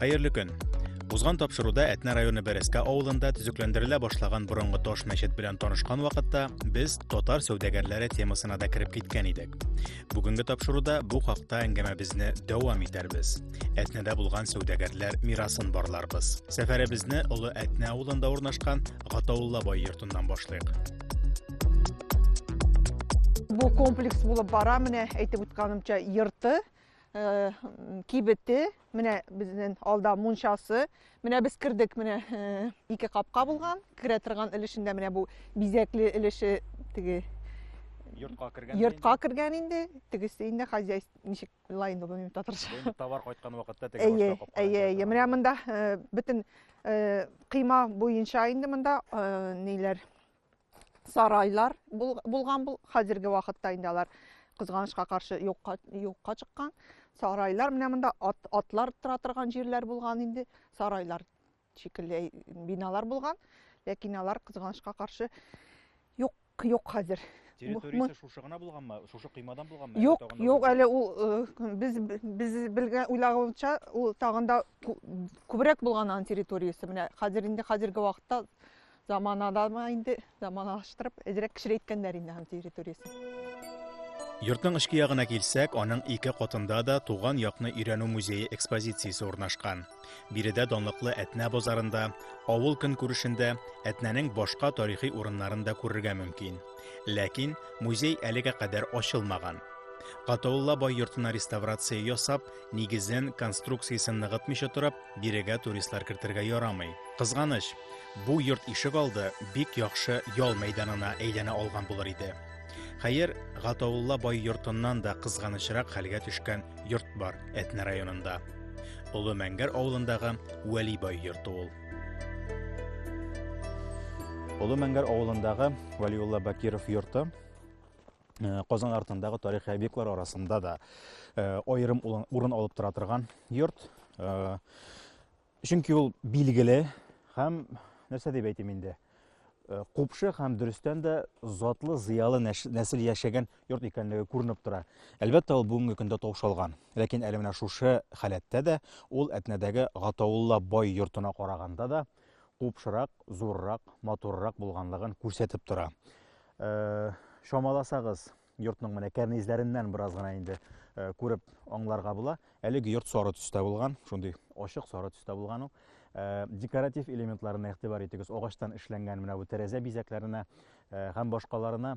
Хәерле көн. Узган тапшыруда Әтнә районы Бәрәскә авылында төзекләндерелә башлаган борынгы таш мәчет белән танышкан вакытта без татар сәүдәгәрләре темасына да кереп киткән идек. Бүгенге тапшыруда бу хакта әңгәмәбезне дәвам итәрбез. Әтнәдә булган сәүдәгәрләр мирасын барларбыз. Сәфәребезне Олы Әтнә авылында урнашкан Гатаулла бай йортыннан башлыйк. Бу комплекс булып бара менә әйтеп үткәнемчә йорты, э, кибете, Менә безнең алда мунчасы. Менә без кердек, менә э, ике капка булган. Керә торган өлешендә менә бу бизәкле өлеше теге йортка кергән йортка кергән инде тегесе инде хозяйство ничек була инде бу татарча товар кайткан вакытта теге әйе әйе әйе менә монда э, бөтен э, кыйма буенча инде монда э, ниләр сарайлар булган бул хәзерге вакытта инде алар кызганычка каршы юкка юкка чыккан сарайлар менә монда ат, атлар тора торган җирләр булган инде сарайлар шикелле биналар булган ләкин алар кызганычка каршы юк юк хәзер территориясе шушы гына булганмы шушы коймадан булганмы юк юк әле ул э, без без белгән уйлаганча ул тагында күбрәк булган аның территориясе менә хәзер инде хәзерге вакытта Заманадамы инде, заманалаштырып, әзрәк кечерәйткәннәр инде һәм территориясен. Йортның эчке ягына килсәк, аның ике катында да туган якны өйрәнү музее экспозициясе урнашкан. Биредә данлыклы Әтнә базарында, авыл көнкүрешендә Әтнәнең башка тарихи урыннарын да күрергә мөмкин. Ләкин музей әлегә кадәр ачылмаган. Катаулла бай йортына реставрация ясап, нигезен, конструкциясен ныгытмыйча торып, Бирегә туристлар кертергә ярамый. Кызганыч, бу йорт ишек алды бик яхшы ял мәйданына әйләнә алган булыр иде. Хәер, Гатаулла бай йортыннан да кызганычрак хәлгә төшкән йорт бар Әтнә районында. Олы Мәңгәр авылындагы Вәли бай йорты ул. Олы Мәңгәр авылындагы Вәлиулла Бакиров йорты Э, Казан артындагы тарихи объектлар арасында да э, аерым урын алып тора торган йорт. Э, чөнки ул билгеле һәм нәрсә дип әйтим инде? Купшы һәм дөрестән дә затлы, зыялы нәсел яшәгән йорт икәнлеге күренеп тора. Әлбәттә, ул бүгенге көндә таушалган. Ләкин әле менә шушы халәттә дә ул Әтнәдәге Гатаулла бай йортына караганда да купшырак, зуррак, матуррак булганлыгын күрсәтеп тора. Чамаласагыз, йортның менә кәрнизләреннән бераз гына инде күреп аңларга була. Әлеге йорт сары төстә булган, шундый ачык сары төстә булган ул. Декоратив элементларына игътибар итегез. Агачтан эшләнгән менә бу тәрәзә бизәкләренә һәм башкаларына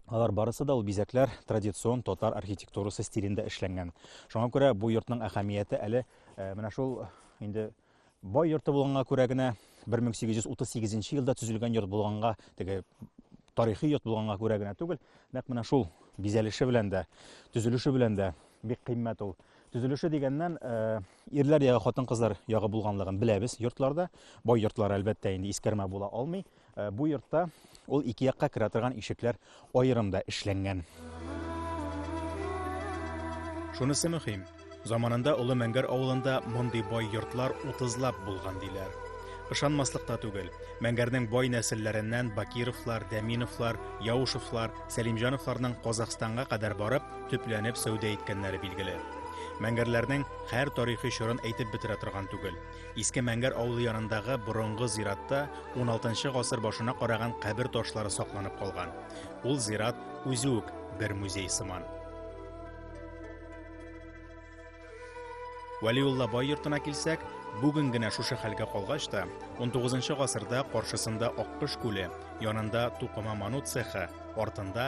Алар барысы да ул бизәкләр традицион татар архитектурасы стилендә эшләнгән. Шуңа күрә бу йортның әһәмияте әле менә шул инде Бай йорты булганга күрә генә 1838 елда төзелгән йорт булганга, теге тарихи йорт булганга күрә генә түгел, нәкъ менә шул бизәлеше белән дә, төзелеше белән дә бик кыйммәт ул. Төзелеше дигәннән, э, ирләр ягы, хатын-кызлар ягы булганлыгын беләбез йортларда. Бай йортлар, әлбәттә, инде искәрмә була алмый. Э, бу йортта ул ике якка керә торган ишекләр аерым да эшләнгән. Шунысы мөһим, заманында Олы Мәңгәр авылында мондый бай йортлар утызлап булган диләр. Ышанмаслык та түгел. Мәңгәрнең бай нәселләреннән Бакировлар, Дәминовлар, Яушевлар, Сәлимҗановларның Казахстанга кадәр барып, төпләнеп сәүдә иткәннәре билгеле. Мәңгәрләрнең һәр тарихи чорын әйтеп бетерә торган түгел. Иске Мәңгәр авылы янындагы борынгы зиратта 16 гасыр башына караган кабер ташлары сакланып калган. Ул зират үзе үк бер музей сыман. Вәлиулла бай йортына килсәк, бүген генә шушы хәлгә калгач та, 19 гасырда каршысында Аккыш күле, янында Тукыма ману цехы, артында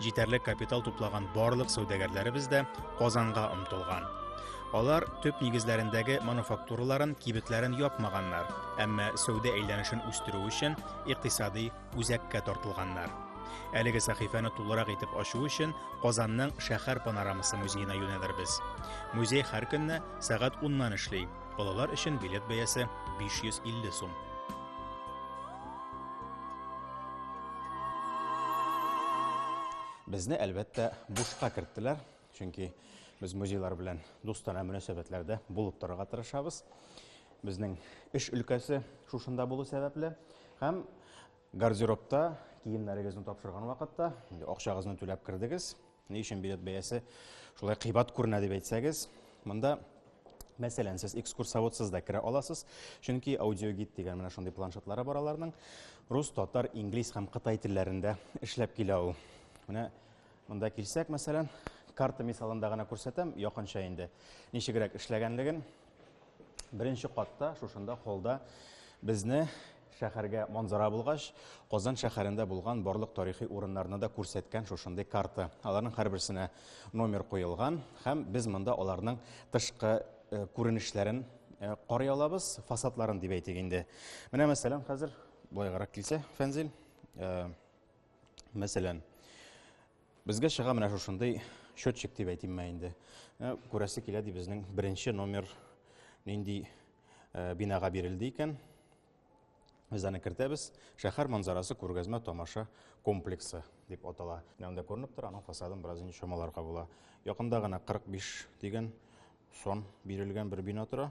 Җитәрлек капитал туплаган барлык сәүдәгәрләребез дә Казанга омтылган. Алар төп нигезләрендәге мануфактураларын, кибетләрен япмаганнар, әмма сәүдә әйләнешен үстерү өчен икътисади үзәккә тартылганнар. Әлеге сәхифәне тулырак итеп ачу өчен Казанның шәһәр панорамасы музеена юнәлербез. Музей һәр көнне сәгать 10 нан эшли. Балалар өчен билет бәясе 550 сум. Безне, әлбәттә, бушка керттеләр, чөнки без музейлар белән дустана мөнәсәбәтләрдә булып торырга тырышабыз. Безнең эш өлкәсе шушында булу сәбәпле һәм гардеробта киемнәрегезне тапшырган вакытта акчагызны түләп кердегез. Ни өчен билет бәясе шулай кыйбат күренә дип әйтсәгез, монда Мәсәлән, сез экскурсоводсыз да керә аласыз, чөнки аудиогид дигән менә шундый планшетлары бар аларның. Рус, татар, инглиз һәм кытай телләрендә эшләп килә ул. Менә монда килсәк, мәсәлән, карта мисалында гына күрсәтәм, якынча инде ничегрәк эшләгәнлеген. Беренче катта, шушында холда безне шәһәргә манзара булгач, Казан шәһәрендә булган барлык тарихи урыннарны да күрсәткән шушындый карта. Аларның һәрберсенә номер куелган һәм без монда аларның тышкы э, күренешләрен э, карый алабыз, фасадларын дип әйтик инде. Менә мәсәлән, хәзер былайгарак килсә, Фәнзил, э, мәсәлән, Безгә чыга менә шушындый счетчик дип әйтим мә инде. Э, күрәсе килә ди безнең беренче номер нинди э, бинага бирелде икән. Без аны кертәбез. Шәһәр манзарасы күргәзмә тамаша комплексы дип атала. Менә күренеп тора, аның фасадын бераз инде чамаларга була. Якында гына 45 дигән сон бирелгән бер бина тора.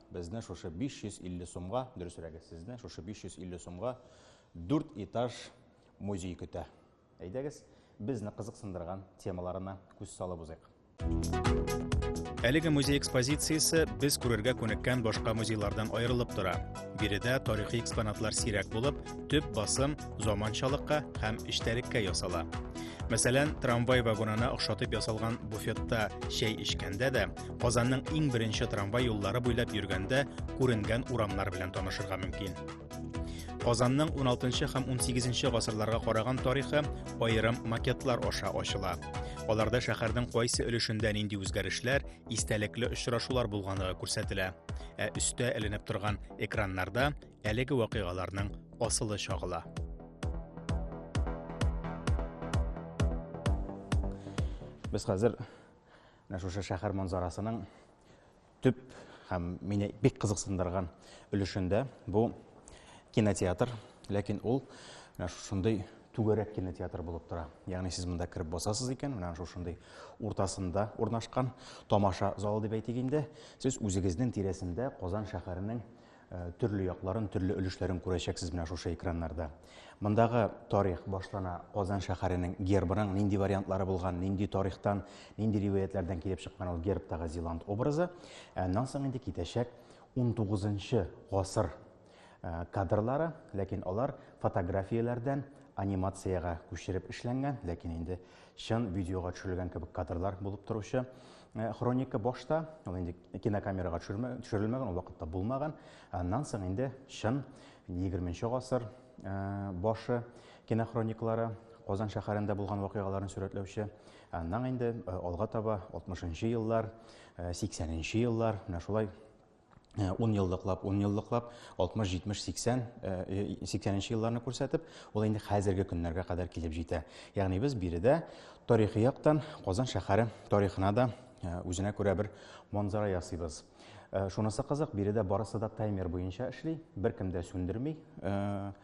Безне шушы 550 сумга, дөресрәге, сезне шушы 550 сумга 4 этаж музей көтә. Әйдәгез, безне кызыксындырган темаларына күз салып узыйк. Әлеге музей экспозициясе без күрергә күнеккән башка музейлардан аерылып тора. Биредә тарихи экспонатлар сирәк булып, төп басым заманчалыкка һәм эчтәлеккә ясала. Мәсәлән, трамвай вагонына охшатып ясалган буфетта чәй эчкәндә дә Казанның иң беренче трамвай юллары буйлап йөргәндә күренгән урамнар белән танышырга мөмкин. Казанның 16 һәм 18 гасырларга караган тарихы аерым макетлар аша ачыла. Аларда шәһәрнең кайсы өлешендә нинди үзгәрешләр, истәлекле очрашулар булганлыгы күрсәтелә. Ә өстә эленеп торган экраннарда әлеге вакыйгаларның асылы чагыла. Без хәзер Менә шушы шәһәр манзарасының төп һәм мине бик кызыксындырган өлешендә бу кинотеатр, ләкин ул менә шушындый түгәрәк кинотеатр булып тора. Ягъни сез монда кереп басасыз икән, менә шушындый уртасында урнашкан тамаша залы дип әйтик инде, сез үзегезнең тирәсендә Казан шәһәренең Э, төрле якларын, төрле өлешләрен күрәчәксез менә шушы экраннарда. Мондагы тарих башлана Казан шәһәренең гербының нинди вариантлары булган, нинди тарихтан, нинди риваятләрдән килеп чыккан ул гербтагы зиланд образы. Э, аннан соң инде китәчәк 19 гасыр э, кадрлары, ләкин алар фотографияләрдән анимацияга күчереп эшләнгән, ләкин инде чын видеога төшерелгән кебек кадрлар булып торучы. Э, хроника башта ул инде кинокамерага төшерелмәгән ул вакытта булмаган аннан соң инде чын 20 гасыр э, башы кинохрониклары Казан шәһәрендә булган вакыйгаларын сурәтләүче аннан инде э, алга таба 60 еллар 80 еллар менә шулай 10 еллыклап, 10 еллыклап, 60, 70, 80, 80 нче елларны күрсәтеп, ул инде хәзерге көннәргә кадәр килеп җитә. Ягъни без биредә тарихи яктан Казан шәһәре тарихына да э, үзенә күрә бер манзара ясыйбыз. Э, шунысы кызык, биредә барысы да таймер буенча эшли, беркем дә сүндерми. Э,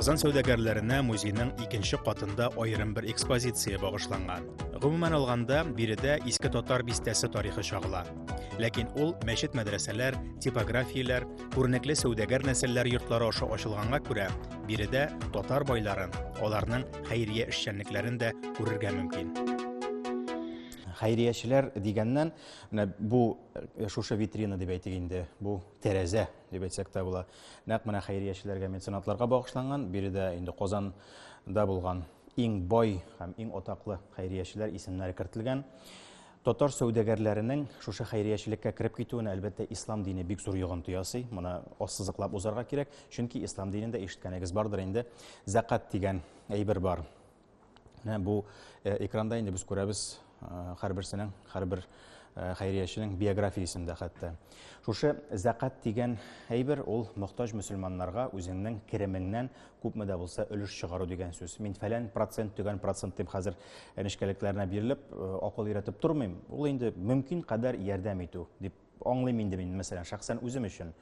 Казан сәүдәгәрләренә музейның икенче катында аерым бер экспозиция багышланган. Гомумән алганда, биредә иске татар бистәсе тарихы чагыла. Ләкин ул мәчет-мәдрәсәләр, типографияләр, күренекле сәүдәгәр нәселләр йортлары аша ачылганга күрә, биредә татар байларын, аларның хәйрия эшчәнлекләрен дә күрергә мөмкин. Хәйриячеләр дигәннән, менә бу э, шушы витрина дип әйтик инде, бу тәрәзә дип әйтсәк тә була. Нәкъ менә хәйриячеләргә, меценатларга багышланган, биредә инде Казанда булган иң бай һәм иң атаклы хәйриячеләр исемнәре кертелгән. Татар сәүдәгәрләренең шушы хәйриячелеккә кереп китүенә, әлбәттә, ислам дине бик зур йогынты ясый. Моны ассызыклап узарга кирәк, чөнки ислам динендә ишеткәнегез бардыр инде, зәкат дигән әйбер бар. Менә бу э, экранда инде без күрәбез э, һәрберсенең, һәрбер э, хәйрияченең биографиясен дә хәтта. Шушы зәкат дигән әйбер ул мохтаҗ мөселманнарга үзеңнең керемеңнән күпме дә булса өлеш чыгару дигән сүз. Мин фәлән процент, төгән процент дип хәзер нечкәлекләренә бирелеп, акыл өйрәтеп тормыйм. Ул инде мөмкин кадәр ярдәм итү дип аңлыйм инде мин, мәсәлән, шәхсән үзем өчен.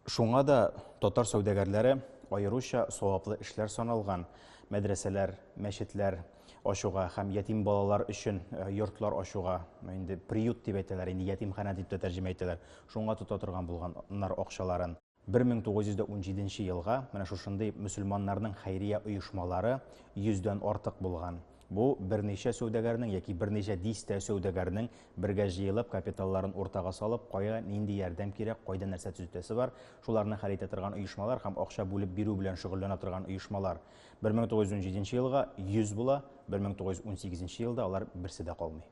Шуңа да татар сәүдәгәрләре аеруча саваплы эшләр саналган мәдрәсәләр, мәчетләр ачуга һәм ятим балалар өчен йортлар ачуга, инде приют дип әйтәләр, инде ятимханә дип тә тәрҗемә итәләр, шуңа тота торган булганнар акчаларын. 1917 елга менә шушындый мөселманнарның хәйрия оешмалары йөздән артык булган. Бу берничә сәүдәгәрнең яки берничә дистә сәүдәгәрнең Бергә җыелып, капиталларын уртага салып, кая, нинди ярдәм кирәк, кайда нәрсә төзетәсе бар, шуларны хәл итә торган оешмалар һәм акча бүлеп бирү белән шөгыльләнә торган оешмалар. 1917 елга 100 була, 1918 елда алар берсе дә калмый.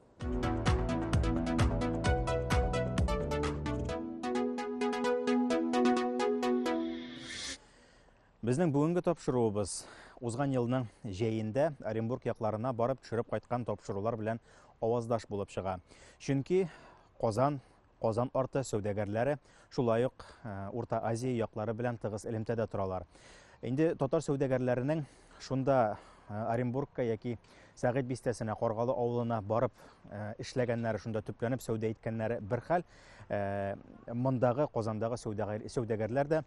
Безнең бүгенге тапшыруыбыз узган елның җәендә Оренбург якларына барып төшереп кайткан тапшырулар белән аваздаш булып чыга. Чөнки Казан, Казан арты сәүдәгәрләре шулай ук э, Урта Азия яклары белән тыгыз элемтәдә торалар. Инде татар сәүдәгәрләренең шунда э, Оренбургка яки Сәгыйть бистәсенә, Каргалы авылына барып э, эшләгәннәре, шунда төпләнеп сәүдә иткәннәре бер хәл. Мондагы Казандагы сәүдәгәрләр дә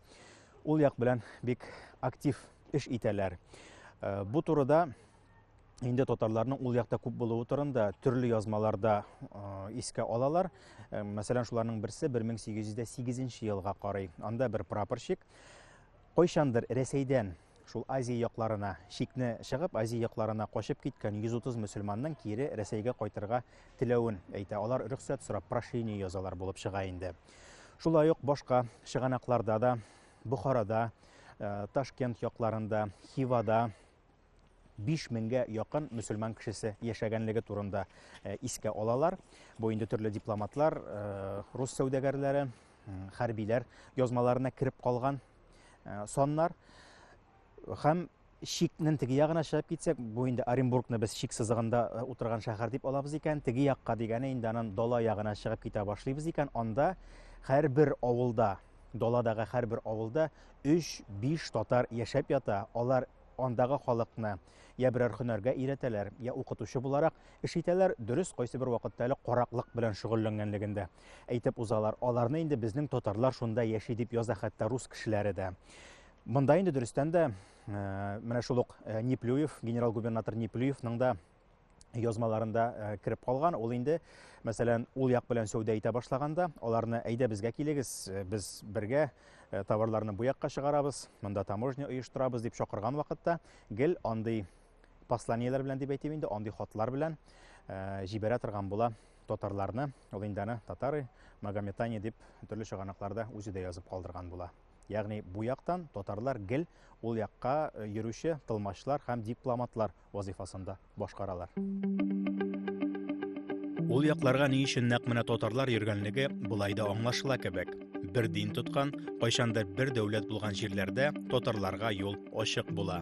Ул як белән бик актив эш итәләр. Э, бу турыда инде татарларның ул якта күп булуы турында төрле язмаларда э, искә алалар. Э, мәсәлән, шуларның берсе 1808 елга карый. Анда бер прапорщик кайчандыр Рәсәйдән шул Азия якларына шикне чыгып, Азия якларына качып киткән 130 мөселманның кире Рәсәйгә кайтырга теләвен әйтә. Алар рөхсәт сорап прошение язалар булып чыга инде. Шулай ук башка чыганакларда да, Бухарада, э, Ташкент якларында, Хивада 5 меңгә якын мөселман кешесе яшәгәнлеге турында э, искә алалар. Бу инде төрле дипломатлар, э, рус сәүдәгәрләре, хәрбиләр язмаларына кереп калган э, саннар һәм Чикнен теге ягына чыгып китсәк, бу инде Оренбургны без чик сызыгында э, утырган шәһәр дип алабыз икән, теге якка дигәне инде анан дала ягына чыгып китә башлыйбыз икән, анда һәрбер авылда, даладагы һәрбер авылда 3-5 татар яшәп ята. Алар андагы халыкны я берәр һөнәргә өйрәтәләр, я укытучы буларак эш итәләр, дөрес кайсы бер вакытта әле караклык белән шөгыльләнгәнлегендә әйтеп узалар. Аларны инде безнең татарлар шунда яши дип яза хәтта рус кешеләре дә. Монда инде дөрестән дә менә шул ук Неплюев, генерал-губернатор Неплюевның да язмаларында э, кереп калган ул инде мәсәлән ул як белән сәүдә итә башлаганда аларны әйдә безгә килегез э, без бергә э, товарларны бу якка чыгарабыз монда таможня оештырабыз дип чакырган вакытта гел андый посланиеләр белән дип әйтим инде андый хатлар белән җибәрә торган була татарларны ул инде аны татары магометане дип төрле чыганакларда үзе дә язып калдырган була Ягъни бу яктан татарлар гел ул якка э, йөрүче тылмачлар һәм дипломатлар вазифасында башкаралар. Ул якларга ни өчен нәкъ менә татарлар йөргәнлеге болай да аңлашыла кебек. Бер дин тоткан, кайчандыр бер дәүләт булган җирләрдә татарларга юл ачык була.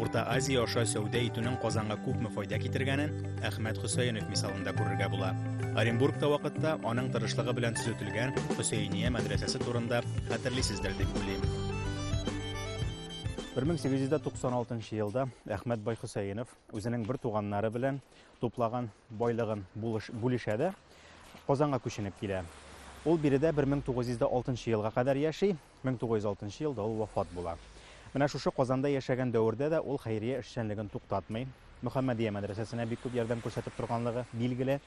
Урта Азия аша сәүдә итүнең Казанга күпме файда китергәнен Әхмәт Хөсәенов мисалында күрергә була. Оренбургта вакытта аның тырышлыгы белән төзетелгән Хөсәения мәдрәсәсе турында хәтерлисездер дип уйлыйм. 1896 елда Әхмәт бай Хөсәенов үзенең бер туганнары белән туплаган байлыгын бүлешә дә Казанга күченеп килә. Ул биредә 1906 елга кадәр яши, 1906 елда ул вафат була. Менә шушы Казанда яшәгән дәвердә дә ул хәйрия эшчәнлеген туктатмый. Мөхәммәдия мәдрәсәсенә бик күп ярдәм күрсәтеп торганлыгы билгеле.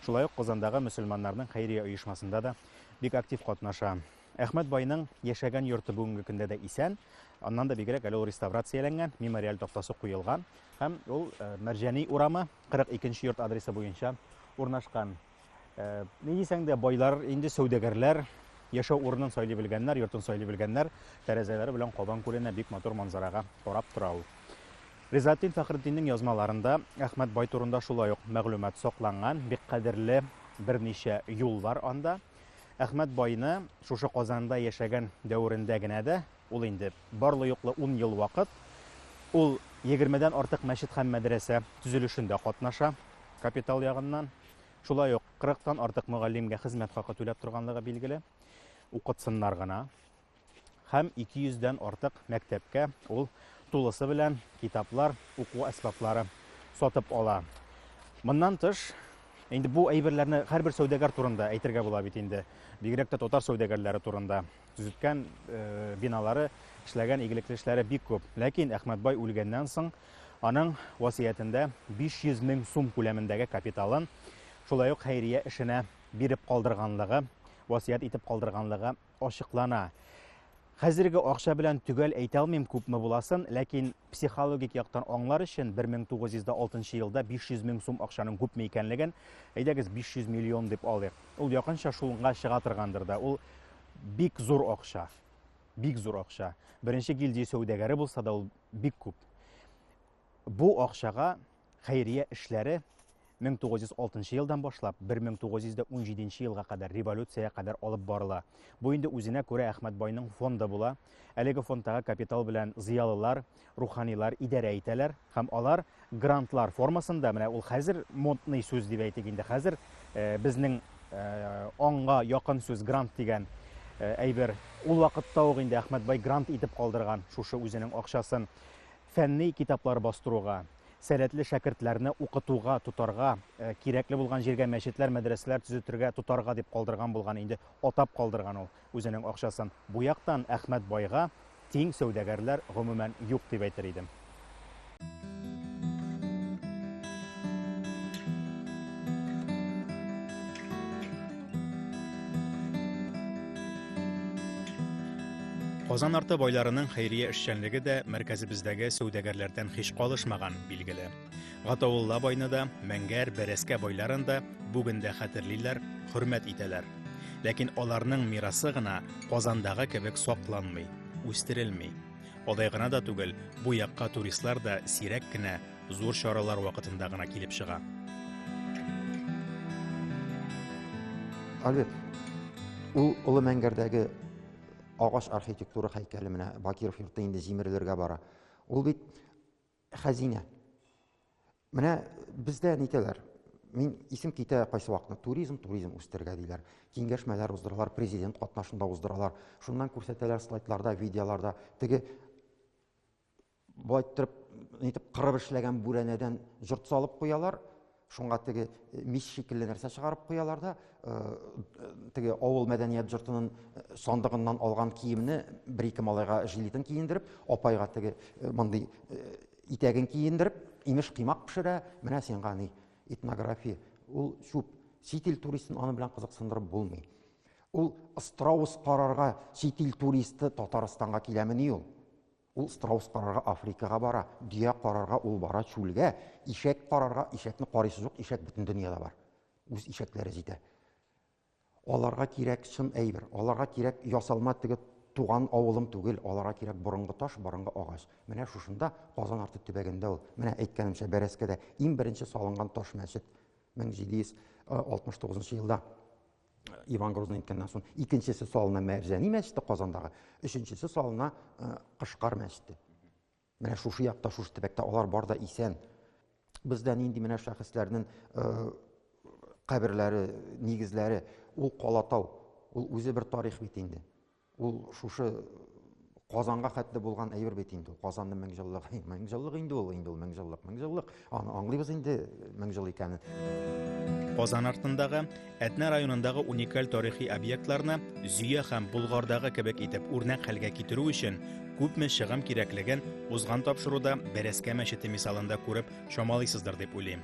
Шулай ук Казандагы мөселманнарның хәйрия оешмасында да бик актив катнаша. Әхмәт байның яшәгән йорты бүгенге көндә дә исән. Аннан да бигрәк әле ул реставрацияләнгән, мемориаль тактасы куелган һәм ул э, Мәрҗәни урамы 42 нче йорт адресы буенча урнашкан. Э, ни дисәң дә байлар инде сәүдәгәрләр яшәү урынын сайлый белгәннәр йортын сайлый белгәннәр тәрәзәләре белән кабан күленә бик матур манзарага карап тора ул ризатдин фәхретдиннең язмаларында әхмәт бай турында шулай ук мәгълүмат сакланган бик кадерле берничә юл бар анда әхмәт байны шушы казанда яшәгән дәверендә генә дә ул инде барлы юклы ун ел вакыт ул егермедән артык мәчет һәм мәдрәсә төзелешендә катнаша капитал ягыннан Шулай ук 40 тан артык мөгаллимгә хезмәт хакы түләп торганлыгы билгеле. Укытсыннар гына. Һәм 200 дән артык мәктәпкә ул тулысы белән китаплар, уку әсбаплары сатып ала. Моннан тыш, инде бу әйберләрне һәрбер сәүдәгәр турында әйтергә була бит инде. Бигрәк тә татар сәүдәгәрләре турында төзеткән э, биналары, эшләгән игелекле эшләре бик күп. Ләкин Әхмәтбай үлгәннән соң Аның васыятендә 500 мең сум күләмендәге капиталын шулай ук хәйрия эшенә биреп калдырганлыгы, васыять итеп калдырганлыгы ачыклана. Хәзерге акча белән төгәл әйтә алмыйм күпме буласын, ләкин психологик яктан аңлар өчен 1906 елда 500 мең сум акчаның күпме икәнлеген, әйдәгез 500 миллион дип алыйк. Ул якынча шулга чыга торгандыр да. Ул бик зур акча. Бик зур акча. Беренче гильдия сәүдәгәре булса да ул бик күп. Бу акчага хәйрия эшләре 1906 елдан башлап 1917 елга кадәр революциягә кадәр алып барыла. Бу инде үзенә күрә Әхмәт байның фонды була. Әлеге фондтагы капитал белән зыялылар, руханилар идарә итәләр һәм алар грантлар формасында менә ул хәзер модный сүз дип әйтик инде хәзер э, безнең э, аңга якын сүз грант дигән э, әйбер ул вакытта ук инде Әхмәтбай грант итеп калдырган шушы үзенең акчасын фәнни китаплар бастыруга сәләтле шәкертләрне укытуга тотарга кирәкле булган җиргә мәчетләр мәдрәсәләр төзетергә тотарга дип калдырган булган инде атап калдырган ул Үзенең акчасын бу яктан Әхмәт байга тиң сәүдәгәрләр гомумән юк дип әйтер идем. Казан арты байларының хәйрия эшчәнлеге дә мәркәзебездәге сәүдәгәрләрдән һич калышмаган, билгеле. Гатаулла байны да, Мәңгәр, Бәрәскә байларын да бүген дә хәтерлиләр, хөрмәт итәләр. Ләкин аларның мирасы гына Казандагы кебек сакланмый, үстерелми. Алай гына да түгел, бу якка туристлар да сирәк кенә, зур чаралар вакытында гына килеп чыга. Әлбәт, ул Олы Мәңгәрдәге агач архитектура һәйкәле менә Бакиров йорты инде җимерелергә бара. Ул бит Хәзинә. Менә бездә нитәләр? Мин исем китә кайсы вакытны. Туризм, туризм үстергә диләр. Киңәшмәләр уздыралар, президент катнашында уздыралар. Шуннан күрсәтәләр слайдларда, видеоларда. Теге болай торып, нитеп кырып эшләгән бүрәнәдән җорт салып куялар. Шуңа теге мич шикелле нәрсә чыгарып куялар да, теге авыл мәдәният җортының сандыгыннан алган киемне бер-ике малайга жилетын киендереп, апайга теге мондый итәген киендереп, имеш кыймак пешерә, менә сиңа ни, этнография, ул чүп. Чит ил туристын аны белән кызыксындырып булмый. Ул страус карарга чит ил туристы Татарстанга киләмени ул? Ул страус карарга Африкага бара, дөя карарга ул бара чүлгә, ишәк карарга, ишәкне карыйсы юк, ишәк бөтен дөньяда бар. Үз ишәкләре җитә. Аларга кирәк чын әйбер, аларга кирәк ясалма теге туган авылым түгел, аларга кирәк борынгы таш, борынгы агач. Менә шушында, Казан арты төбәгендә ул. Менә әйткәнемчә, Бәрәскәдә иң беренче салынган таш мәчет 1769 елда. Иван Грозный әйткәннән соң, икенчесе салына Мәрҗәни мәчете Казандагы, өченчесе салына э, Кышкар мәчете. Менә шушы якта, шушы төбәктә алар бар да исән. Бездә нинди менә шәхесләрнең э, каберләре, нигезләре, ул Калатау, ул үзе бер тарих бит инде. Ул шушы Казанга хәтле булган әйбер бит инде. Казанның меңҗыллыгы, меңҗыллык инде ул, инде ул меңҗыллык, меңҗыллык. Аны аңлыйбыз инде меңҗыл икәнен. Казан артындагы Әтнә районындагы уникаль тарихи объектларны Зөя һәм Болгардагы кебек итеп үрнәк хәлгә китерү өчен күпме чыгым кирәклеген узган тапшыруда Бәрәскә мәчете мисалында күреп чамалыйсыздыр дип уйлыйм.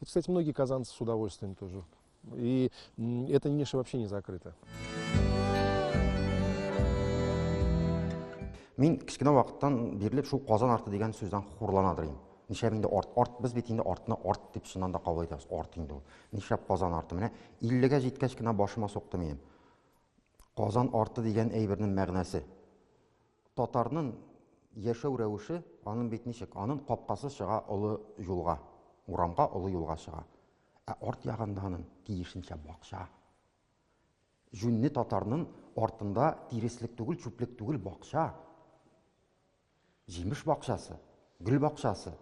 Это, кстати, многие казанцы с удовольствием тоже. И эта ниша вообще не закрыта. Мин кичкенә вакыттан бирле шул Казан арты дигән сүздән хурланадыр идем. Нишләп инде арт, арт без бит инде артны арт дип шуннан да кабул итәбез. Арт инде ул. Нишләп Казан арты? Менә 50-гә җиткәч кенә башыма сукты минем. Казан арты дигән әйбернең мәгънәсе. Татарнын яшәү рәвеше анын бит ничек? Анын капкасы чыга олы юлга, урамга, олы юлга чыга. Ә арт ягында анын тиешенчә бакча. Җүнле татарнын артында тиреслек түгел, чүплек түгел, бакча. Җимеш бакчасы. Гөл бакчасы.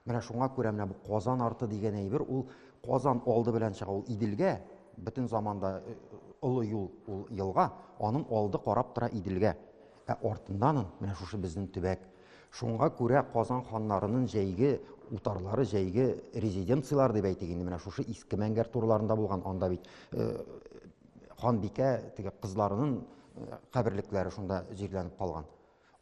Менә шуңа күрә менә бу Казан арты дигән әйбер ул Казан алды белән чыга ул Иделгә, бөтен заманда э, олы юл ул елга, аның алды карап тора Иделгә. Ә артыннан менә шушы безнең төбәк. Шуңа күрә Казан ханнарының җәйге утарлары, җәйге резиденцияләр дип әйтик инде, менә шушы иске Мәңгәр турларында булган, анда бит э, ханбикә теге кызларының э, каберлекләре шунда җирләнеп калган.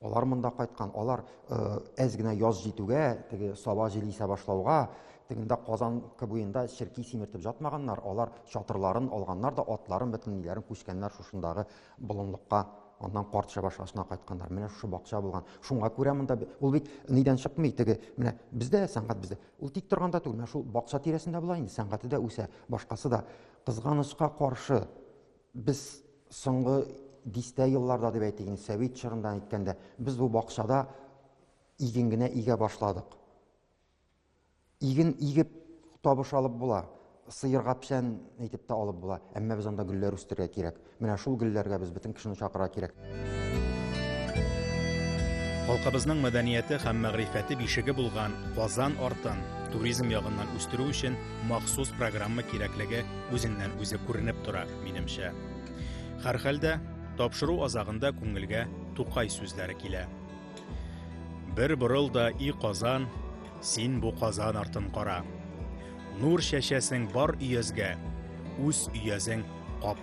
Алар монда кайткан, алар э, әз генә яз җитүгә, теге саба җил исә башлауга, тегендә Казан буенда черки симертеп жатмаганнар, алар чатырларын алганнар да, атларын, бөтен ниләрен күчкәннәр шушындагы болынлыкка аннан карт шабашасына кайтканнар менә шушы бакча булган шуңа күрә монда ул бит нидән чыкмый теге менә бездә сәнгать бездә ул тик торганда түгел менә шул бакча тирәсендә була инде сәнгате дә үсә башкасы да кызганычка каршы Без соңгы дистә елларда дип әйтик инде, совет чорыннан әйткәндә, без бу бакчада иген генә игә башладык. Иген игеп табыш алып була, сыерга печән әйтеп тә алып була, әмма без анда гөлләр үстерергә кирәк. Менә шул гөлләргә без бөтен кешене чакырырга кирәк. Халкыбызның мәдәнияте һәм мәгърифәте бишеге булган Казан артын туризм ягыннан үстерү өчен махсус программа кирәклеге үзеннән үзе күренеп тора, минемчә. Һәрхәлдә, тапшыру азагында күңелгә Тукай сүзләре килә. Бер борыл да и Казан, син бу Казан артын кара. Нур чәчәсең бар өязгә, үз өязең кап